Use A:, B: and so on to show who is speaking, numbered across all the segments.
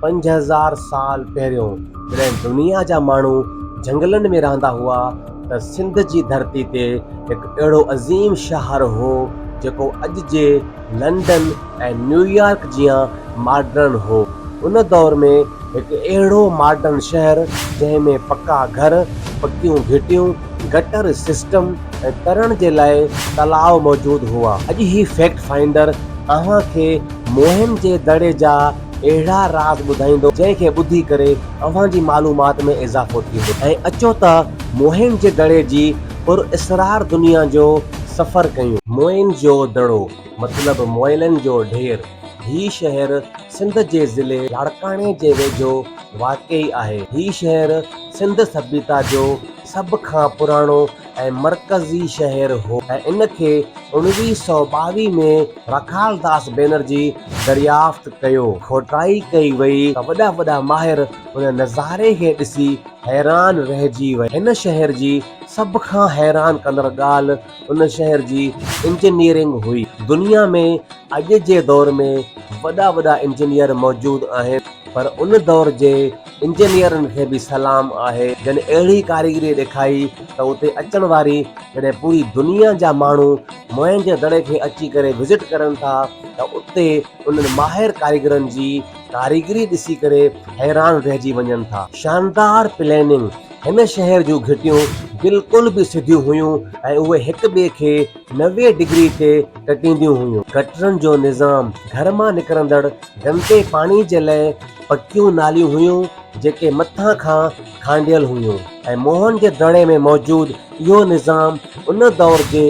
A: پنج هزار سال پهريون جڏهن دنيا جا ماڻهو جهنگلن ۾ رهندا هئا ته سنڌ جي ڌرتي تي هڪ اهڙو عظيم شهر هو جيڪو اڄ جي لنڊن ۽ نيويارڪ جيان ماڊرن هو. ان دور ۾ هڪ اهڙو ماڊرن شهر جنهن ۾ پڪا گهر، پڪيون گهٽيون، گٽر سسٽم ۽ ترڻ جي لاء تلاء موجود هئا. اڄ هي فيڪٽ فائنڊر اوهان کي موهن جي دڙي جا اهڙا راز ٻڌائيندو جنهن کي ٻڌي ڪري اوهان جي معلومات ۾ اضافو ٿيندو ۽ اچو ته موهن جي دڙي جي پر اسرار دنيا جو سفر ڪيون. موئن جو دڙو، مطلب موئلن جو ڍير، هي شهر سنڌ جي ضلعي لاڙڪاڻي جي ويجهو واقع آهي. هي شهر سنڌ سڀيتا جو سڀ کان پراڻو ۽ مرڪزي شهر هو ۽ ان کي اوڻويهه سؤ ٻاويهه ۾ راکال داس بينرجي دريافت ڪيو. کوٽائي ڪئي وئي ته وڏا وڏا ماهر ان نظاري کي ڏسي حيران رهجي ويا. هن شهر جي سڀ کان حيران ڪندڙ ڳالهه ان شهر جي انجنيئرنگ هئي. دنيا ۾ اڄ جي دور ۾ وڏا وڏا انجنيئر موجود آهن پر ان دور جي انجنيئرن کي به سلام آهي جن اهڙي ڪاريگري ڏيکائي ته اتي اچڻ واري جڏهن پوري دنيا جا ماڻهو موئنجو دڙي کي اچي ڪري وزٽ ڪرن ٿا ته اتي انهن ماهر ڪاريگرن جي ڪاريگري ڏسي ڪري حيران رهجي وڃن ٿا. شاندار پليننگ، هن شهر جون گهٽيون بلڪل به سڌيون هيون ۽ اهي هڪ ٻئي کي نوي ڊگري تي ٽٽينديون هيون. گٽرن جو نظام، گهر مان نڪرندڙ گندي پاڻي جي لئه پڪيون ناليون هيون جيڪي مٿان کان کانڊيل هيون ۽ موهن جي دڙي ۾ موجود اهو نظام ان دور جي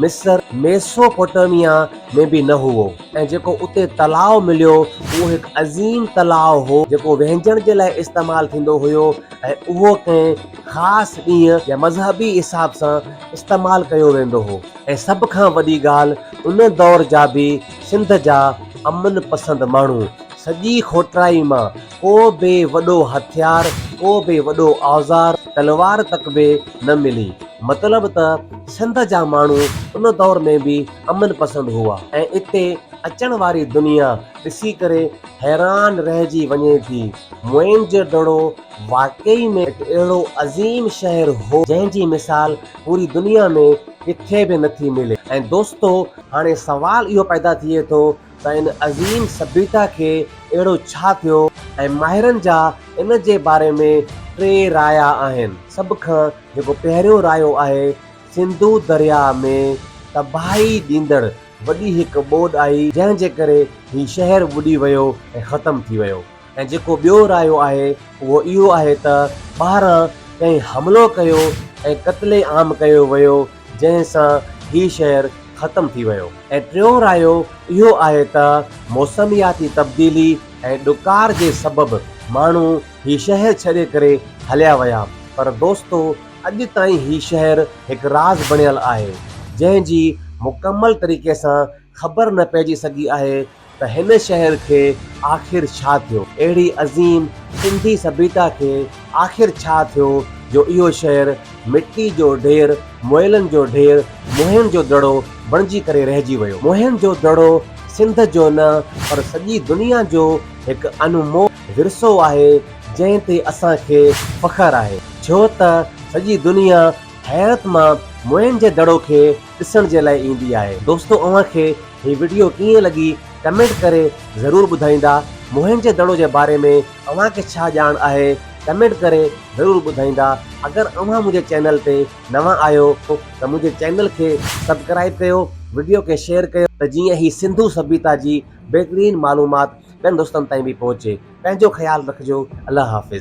A: مصر، ميسوپوٽيميا، ۾ به نه هئو ۽ جيڪو اتي تلاء مليو اهو هڪ عظيم تلاء هو جيڪو وهنجڻ جي لاء استعمال ٿيندو هيو ۽ اهو ڪنهن. خاص ڏينهن يا مذهبي حساب سان استعمال ڪيو ويندو هو ۽ سڀ کان وڏي ڳالهه ان دور جا به سنڌ جا امن پسند ماڻهو سڄي کوٽرائي مان ڪو به وڏو هٿيار ڪو به وڏو اوزار تلوار تڪ به نه ملي مطلب ته سنڌ جا ماڻهو ان دور ۾ به امن پسند هئا ۽ اتي اچڻ واري دنيا ڏسي ڪري حيران رهجي وڃي ٿي موئن جو دڙو واقعي ۾ هڪ اهڙو عظيم شهر هو جنهن جي مثال پوري دنيا ۾ ڪٿي به نه ٿي ملي ۽ دوستو هاڻي سوال اهو پيدا ٿئي ٿو ته ان عظيم سڀيتا کي اهڙو ڇا ٿيو ۽ ماهرن جا ان جي باري ۾ ٽي رايا آهن سڀ کان جيڪو پهريون رايو آهي سنڌو درياء ۾ تباهي ڏيندڙ وڏي هڪ ٻوڏ آئي جنهن جي ڪري هي شهر ٻڏي ويو ۽ ختم ٿي ويو. ۽ جيڪو ٻيو رايو آهي اهو اهو آهي ته ٻاهران ڪنهن حملو ڪيو ۽ قتل عام ڪيو ويو جنهن سان هي شهر ختم ٿي ويو ۽ ٽيون رايو اهو آهي ته موسمياتي تبديلي ۽ ڏڪار جي سبب ماڻهو هي شهر ڇڏي ڪري هليا ويا پر دوستو اڄ تائين هي شهر هڪ راز بڻيل آهي جنهن جي مڪمل طريقي سان خبر نه پئجي سگهي آهي ته هن شهر کي آخر ڇا ٿيو؟ اهڙي عظيم سنڌي سڀيتا کي آخر ڇا ٿيو جو اهو شهر مٽي جو ڍير، موئلن جو ڍير، موهن جو دڙو بڻجي ڪري رهجي ويو. موهن جو دڙو سنڌ جو نه پر سڄي دنيا جو هڪ انمول ورثو آهي جنهن تي اسان کي فخر آهي ڇو ته سڄي دنيا حيرت مان موهن جي دڙو کي ڏسڻ جي لاء ايندي آهي. دوستو اوهان کي هي وڊيو ڪيئن لڳي ڪمينٽ ڪري ضرور ٻڌائيندا. موهنجي دڙو جي باري ۾ اوهان کي ڇا ڄاڻ آهي ڪمينٽ ڪري ضرور ٻڌائيندا. اگر اوهان منهنجي چينل تي نوان آهيو ته منهنجي چينل کي سبڪرائيب ڪيو وڊيو کي شيئر ڪيو. ته جيئن هي سنڌو سڀيتا جي بهترين معلومات ٻين دوستن تائين به پهچي. پنهنجو خيال رکجو الله حافظ.